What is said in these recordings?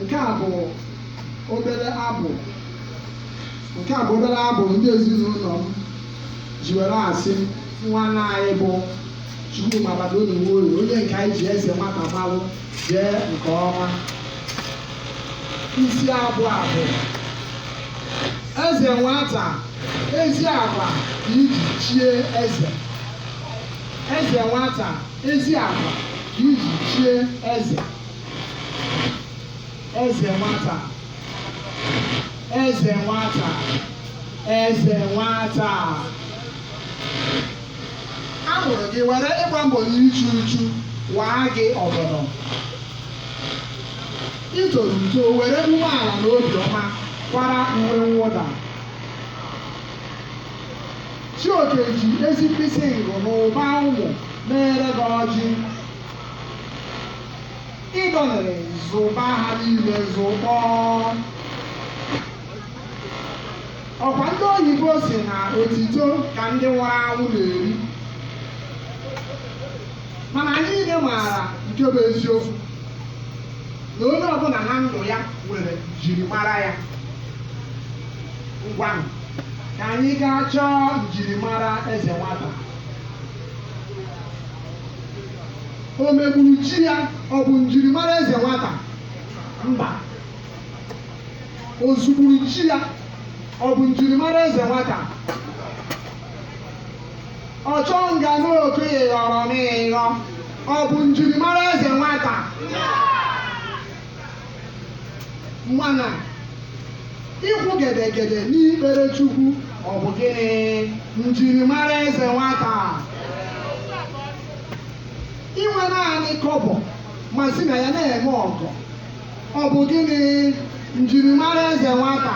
Nke a bụ obere abụ ndị ezinụlọ m ji were asị nwanne anyị bụ Chukwuma Badonu Nwoye onye nke anyị ji eze nwata malụ jee nke ọma isi abụ a bụ eze nwata ezi agwa ka i ji chie eze eze nwata ezi agwa ka i ji chie eze eze nwata eze nwata eze nwata a mụrụ gị were ịgba mbọ na ịchụ uchu waa gị ọgọdọ i toro uto were umeala na obiọma kwara uwe mwụda Chioke ji ezi mkpịsị ngụ na ụba ụmụ meere gị ọjị. Ị dọlere zụba ha niile zụkpọọ. Ọkwa ndị oyibo sị na otito ka ndị nwụrụ anwụ na-eri. Mana anyị niile maara nke bụ eziokwu na onye ọbụla na ndụ ya nwere njirimara ya. Ngwanụ. ka anyị gaa chọọ njirimara eze nwata o megburu chi ya ọ bụ njirimara eze nwata mba o zugburu chi ya ọ bụ njirimara eze nwata ọchọ nga n'okenye ghọrọ n'ịghọ ọ bụ njirimara eze nwata mana ịkwụ gedegede n'ikpere Chukwu ọ bụ gịnị njirimara eze nwata inwe naanị kọbọ ma si na ya na-eme ọgọ ọ bụ gịnị njirimara eze nwata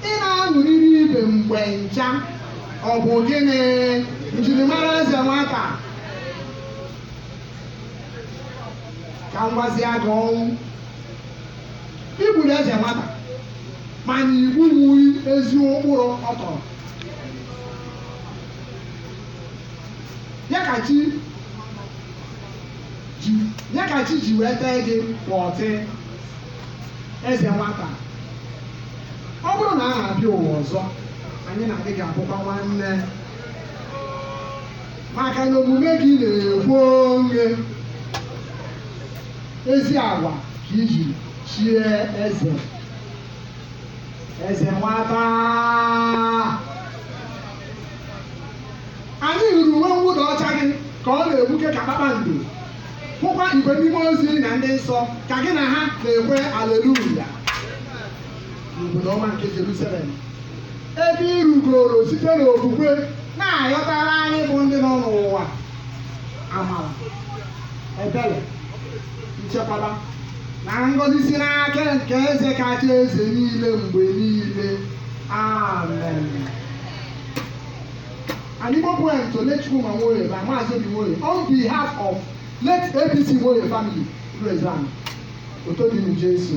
ị na-aṅụrịrị ibe mgbe ncha ọ bụ gịnị njirimara eze nwata ka m gwazie gị ọnwụ i gburu eze nwata mana i gbunwughị ezi ụkpụrụ ọ tọrọ ya ka chi ji wee tee gị pọtị eze nwata ọ bụrụ na a na-abịa ụwa ọzọ anyị na gị ga-abụkwa nwanne maka na omume gị na-ekwu onwe ezi agwa ka i ji chie eze eze nwata anyị hụrụ uwe mwụda ọcha gị ka ọ na-egbuke ka kpakpando hụkwa igwe ndị mmụọ ozi na ndị nsọ ka gị na ha na-ekwe aleluya n'obodo ọma nke Jerusalem ebe ị rugoro site n'okwukwe na-ayọtara anyị bụ ndị nọ n'ụwa amara ebere nchekwaba na ngọzi si n'aka nke eze kacha eze niile mgbe niile amen an Igbo poem to late Chukwuma Nwoye by Maazị Obi Nwoye on behalf of late APC Nwoye family Igbo Ezana Òtó di ní Jésù.